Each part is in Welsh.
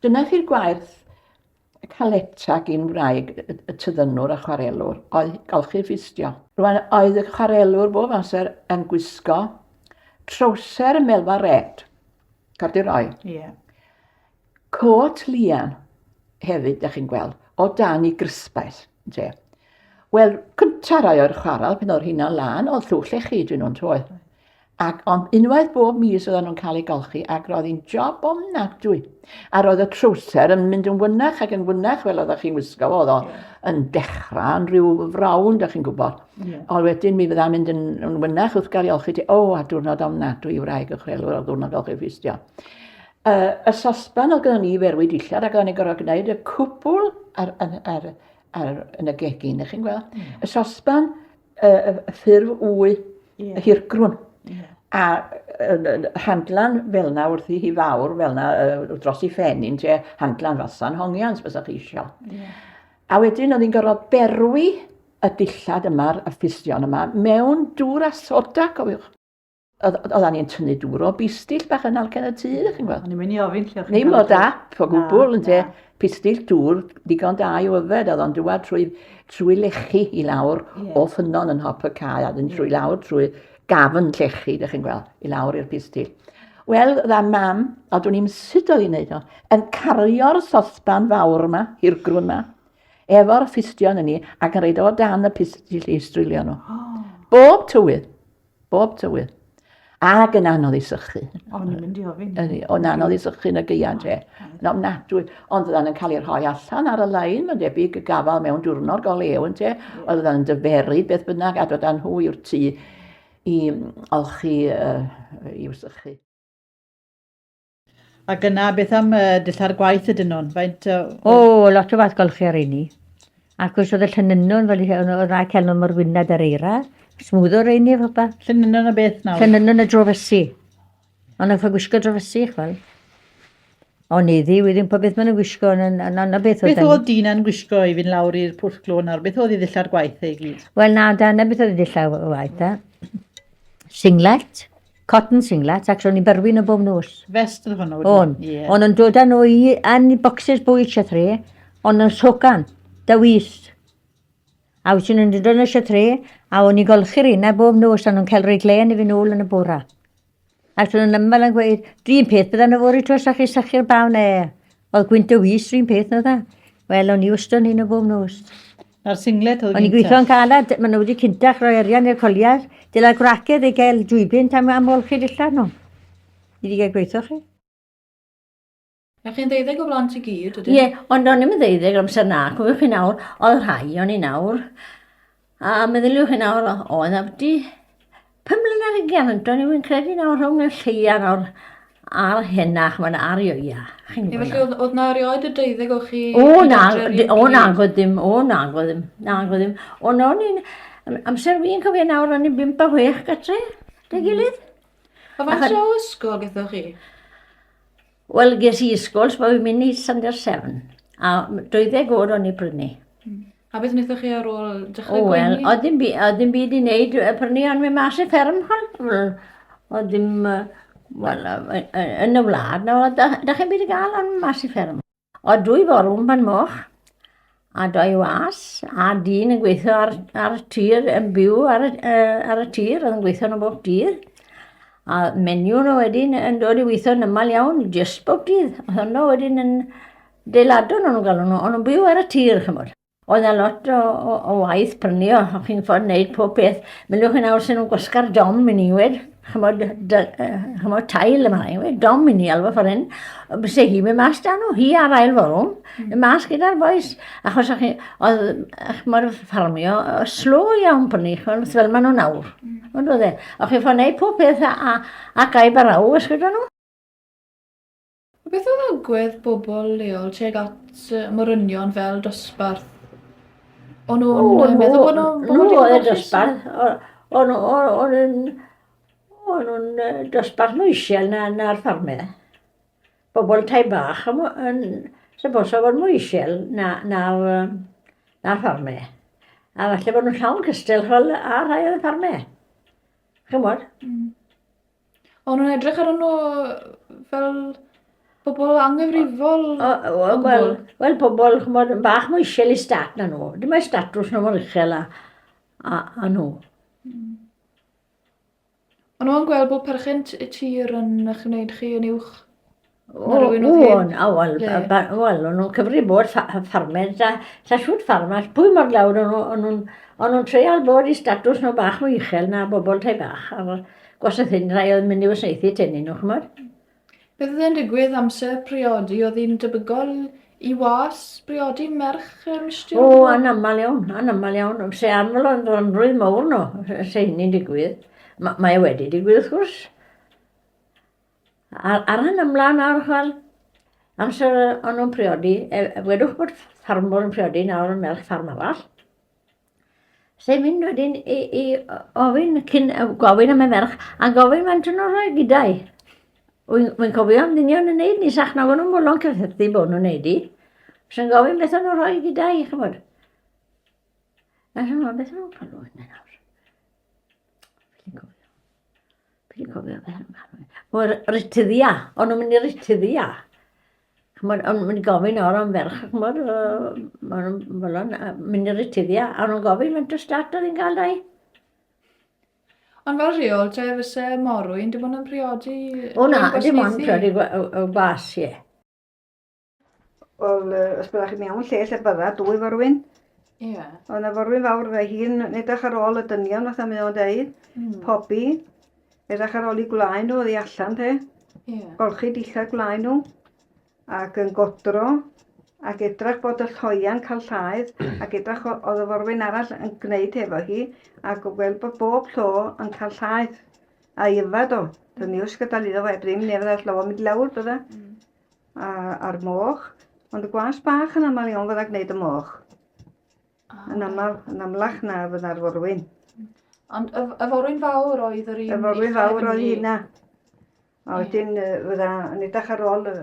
Dyna chi'r gwaith y Caletta gin wraig y tyddynwr a chwarelwr, oedd golchi ffistio. Rwan oedd y chwarelwr bob amser yn gwisgo trowser melfa red, corduroy. Ie. Yeah. Cot lian hefyd, da chi'n gweld, o dan i grysbaeth. Ynte. Wel, cynta rai o'r chwaral, pan oedd hynna'n lan, oedd llwch lle chi dyn nhw'n troed. Ac ond unwaith bob mis oedden nhw'n cael eu golchi ac roedd hi'n job o mnadwy. A roedd y trwser yn mynd yn wynach ac yn wynach fel oeddech chi'n wisgo fo. Oedd o yn dechrau yn rhyw frawnd, ydych chi'n gwybod. Yeah. Ond wedyn mi fydda'n mynd yn, yn wynach wrth gael ei olchi ti. O, a diwrnod o mnadwy i wraig y chrelwr o ddiwrnod olchi ffistio. uh, y sosban oedd gyda ni ferwyd dillad ac o'n i'n gorfod gwneud y cwbl ar, ar, ar, ar, yn y gegin, ych chi'n gweld? Mm. Y sosban, y, y, y ffurf wy, yeah. y hirgrwn. Yeah. A uh, handlan fel na wrth i hi fawr, fel na uh, dros i ffen i'n te, handlan fasan hongians, fysa chi eisiau. Yeah. A wedyn oedd hi'n gorfod berwi y dillad yma, y ffistion yma, mewn dŵr a soda, cofiwch. Oedda ni'n tynnu dŵr o bistill bach yn algen y tŷ, chi'n gweld. O'n i'n mynd i ofyn lle o'ch Ddim o dap o gwbl, yn te. Pistill dŵr, digon da i yfed, oedd o'n dywad trwy, trwy lechu i lawr yeah. o ffynon yn hop y cae, a ddyn trwy yeah. lawr trwy gafn llechu, ydych chi'n gweld, i lawr i'r pistill. Wel, dda mam, a dwi'n i'n sut oedd hi'n neud o, yn cario'r sosban fawr yma, i'r grwn yma, efo'r ffistion yn ni, ac yn reid o dan y pistill i strulio nhw. Oh. Bob tywydd. Bob tywydd. Ac yn anodd i sychu. O'n i'n mynd i ofyn. Ydy, o'n anodd i sychu yn y geian te. Yn ofnadwy. Ond fyddan yn cael ei rhoi allan ar y lein, mae'n debyg y gafael mewn diwrnod go lew yn te. Oedd fyddan yn dyferu beth bynnag a dod â nhw i'r tŷ i olchi uh, i'w sychu. Ac yna, beth am uh, dillad gwaith ydyn nhw'n? Faint... Uh, o, oh, lot o fath golchi ar eini. Ac os oedd y llynynwn, fel oedd y rai celwn mor wynad ar eira, smwdd o'r eini efo ba. Llynynwn y beth nawr? Llynynwn y drofysu. Ond oedd yn gwisgo drofysu, chwel. Ond iddi, wedi yn popeth maen nhw'n gwisgo, yn anna beth oedd... Beth oedd dyn yn gwisgo i fynd lawr i'r pwll glo nawr? Beth oedd i ddillad gwaith ei gyd? Wel na, da, na beth oedd i ddillad gwaith, da. Singlet, Cotton singlet, ac ro'n i'n byrwi nhw bob nos. Vest oedd hwnnw? O'n. Yeah. O'n yn dod â nhw i yn bocsys bwy siatre, o'n yn socan, dywys. A wyt ti'n yn dod yn y siatre, a o'n i'n golchi'r unau bob nos, a nhw'n cael rhoi glen i fi nôl yn y bora. Ac ro'n yn ymwneud yn gweud, dwi'n peth bydda nhw fori tros a chi sychu'r bawn e. Oedd Gwynto Wys rhywun peth na dda. Wel, o'n i wastad yn hyn o bob nos. A'r singlet oedd O'n i'n gweithio yn calad, maen nhw wedi cyntach roi arian i'r coliau. Dyla gwracedd ei gael dwybyn am am olchi dillad nhw. Ni wedi cael gweithio chi. A chi'n ddeuddeg o blant i gyd, ydyn? Ie, ond o'n i'n ddeuddeg amser na, cofio chi nawr, oedd rhai o'n i nawr. A meddyliwch chi nawr, oedd abdi pum mlynedd yn gefn, do'n i yn credu nawr rhwng y lleia nawr a'r henach, mae'n arioia. Chi'n gwybod Felly, oedd, oedd na erioed y deuddeg o chi... O, na, o, na, oedd ddim, o, na, oedd ddim, na, oedd ddim. O, na, o'n i'n, amser fi'n cofio nawr, o'n i'n bimp a hwech gatre, dy gilydd. A faint o ysgol gyda chi? Wel, ges i ysgol, so fi'n mynd i Sunday Seven. A 20 oed o'n i brynu. Hmm. A beth wnaethoch chi ar ôl dechrau gwenu? Wel, oedd dim, oedd dim byd i wneud y prynu ond mynd mas i fferm hwn. Oedd dim, wel, yn y wlad, na, da, da chi'n byd i gael ond mas i fferm. Oedd dwy forwm pan moch, a doi was, a dyn yn gweithio ar, ar y tir, yn byw ar y, uh, ar y tir, oedd yn gweithio yn y bob dydd. A menu nhw wedyn yn dod i weithio yn ymal iawn, jyst bob dydd. Oedd hwnnw wedyn yn deiladwn o'n galw nhw, o'n nhw'n byw ar y tir, chymod. Oedd yna lot o, o, o waith prynu o, o'ch chi'n ffordd wneud pob peth. Mylwch yn awr sy'n nhw'n gwasga'r dom i ni wed. chymod, dy, uh, chymod tail yma, yw e, dom i ni alw ffordd hyn, byse hi mynd mas dan nhw, hi ar ail forwm, mm. mynd mas gyda'r boes, achos chi, oedd, chymod, ffarmio, slo iawn pan ni, chymod, fel maen nhw'n awr, mm. ond oedd e, o'ch chi'n ffordd neud pob peth a, a, a gaib ar aw, ysgwyd nhw? A beth oedd agwedd bobl leol tuag at y morynion fel dosbarth? O'n nhw'n O, yy, meddwl bod nhw'n nhw bobl oedd y digon dosbarth. O- O'n nhw- o- o'n nhw'n o'n nhw'n yy, dosbarth mwy isel na na'r ffarmau. Bobl tai bach yn mwy- yn syposa fod mwy isel na na'r yym, na'r ffarmau. A falle bod nhw'n llawn cystal ch'wel a rhai o'r ffarmau. Ch'mod? O'n nhw'n edrych ar nhw fel pobl anghyfrifol? Wel, wel, wel pobl, chymod, yn bach mwy eisiau i stat na nhw. Dim mae statws nhw mor uchel a, a, a nhw. Mm. Ond nhw'n gweld bod perchen y tir yn eich wneud chi yn uwch O, o, na, wel, wel, o'n nhw'n cyfri bod ffarmers, da, da siwt ffarmers, pwy mor lawr o'n nhw, o'n nhw'n, o'n nhw'n treial bod i statws nhw bach mwy uchel na bobl tai bach, a'r gwasaeth hyn rai oedd mynd i wasnaethu tenni nhw, chymod? Bydd yn digwydd amser priodi, oedd hi'n debygol i was briodi merch y mistir? O, anaml iawn, anaml iawn, se anfol o'n rhonrwydd mawr nhw, se hynny'n digwydd. Mae e wedi digwydd, wrth gwrs. Ar, ar hyn ymlaen nawr, chwel, amser o'n nhw'n priodi, e, e, wedwch bod ffarmwr yn priodi nawr yn melch ffarm arall, sy'n mynd wedyn i, i ofyn cyn gofyn am y merch, a gofyn mae'n tyn o'r gydau. Wy'n cofio am ddinion yn neud ni, sach nag o'n nhw'n mwlon cyffethu bod nhw'n neud i. Sy'n gofyn beth o'n nhw'n rhoi gydau, chi'n bod. A sy'n gofyn beth o'n nhw'n palwyn nawr. Fi wedi cofio fe hyn. Mae'r rityddia, o'n nhw'n mynd i rityddia. Chymod, o'n nhw'n mynd i gofyn o'r am ferch, chymod, o'n nhw'n mynd i rityddia, a nhw'n gofyn faint o start oedd hi'n cael dau. Ond fel rheol, te fysa morwyn, dim ond yn priodi... O na, dim ond priodi gwas, ie. Wel, os byddwch chi'n mewn lle lle bydda, dwy forwyn. Ie. Yeah. Ond y forwyn fawr fe hi'n edrych ar ôl y dynion, fatha mae o'n deud, mm. pobi, edrych ar ôl i gwlau nhw, oddi allan te. Ie. Yeah. Golchi dillad gwlau nhw, ac yn godro, ac edrych bod y lloia'n cael llaeth, ac edrych oedd y forwyn arall yn gwneud hefo hi, ac o gweld bod bob llo yn cael llaeth, a yfad o. Dyna ni wrth gadael iddo fe, ddim nefyd all llo mynd lawr, bydda. Mm. A, a'r moch. Ond y gwas bach yn aml iawn fydda gwneud y moch. Ah, yn aml, yn amlach na fydda'r forwyn. Ond y, y forwyn fawr oedd yr un... Y forwyn fawr oedd hynna. A wedyn yeah. fydda yn edrych ar ôl y,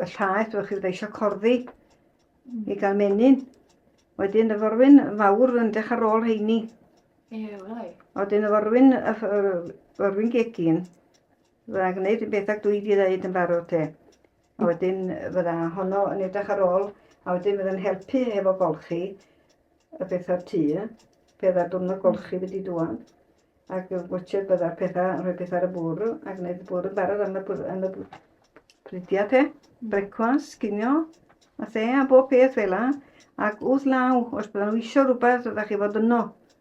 y llaeth, fydda chi fydda eisiau corddi mm. i gael menyn. Wedyn y forwyn fawr yn edrych ar ôl heini. Ie, yeah, welai. Wedyn y forwyn, y forwyn gegin, Fydda gwneud y bethau dwi wedi dweud yn barod te. A wedyn fydda honno yn edrych ar ôl, a wedyn fydda'n helpu hefo golchi y pethau tu, pe dda diwrnod golchi wedi dwan. Ac watcher bydda'r pethau, rhoi pethau ar y bwrw, a gwneud y bwrw yn barod am y, am y pridiau te. Mm. Brecwas, cinio, a the, a bob peth fel la. Ac wrth law, os bydda nhw eisiau rhywbeth, ydych chi fod yno.